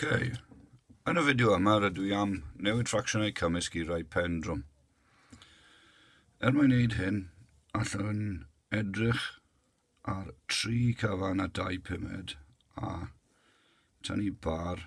Okay. Yn y fideo yma rydw i am newid ffracsiynau cymysg i rai pen drwm. Er mwyn wneud hyn, allwn edrych ar tri cyfan a dau pumed a tynnu bar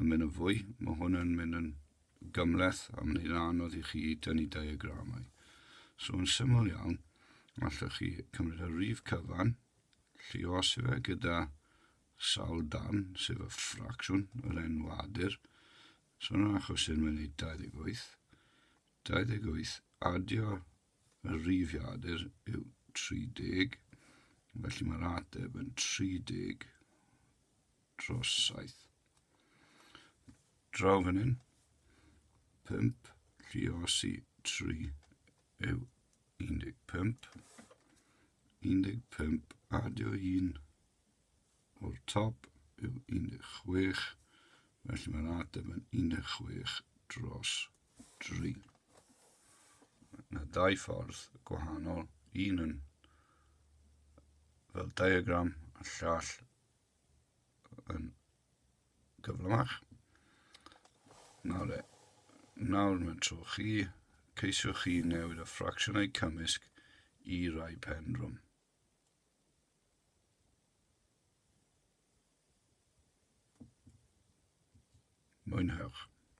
yn mynd yn fwy. Mae hwn yn mynd yn gymleth a mae'n hyn anodd i chi dynnu diagramau. So yn syml iawn, allwch chi cymryd y rif cyfan, lliosi fe gyda sawl darn, sef y ffracsiwn, yr enwadur. So yn yr achos hyn mae'n ei 28. 28 adio y rifiadur yw 30, felly mae'r ateb yn 30 dros saith. Draw fan hyn, pump, lliosi, tri, yw 15. 15 adio un o'r top yw 16, felly mae'r ateb yn 16 dros 3. Mae dau ffordd gwahanol, un yn fel diagram a llall yn gyflymach. Nawr, e, nawr mae'n tro chi, ceisiwch chi newid y ffracsiynau cymysg i rai pendrwm. Mwynhewch.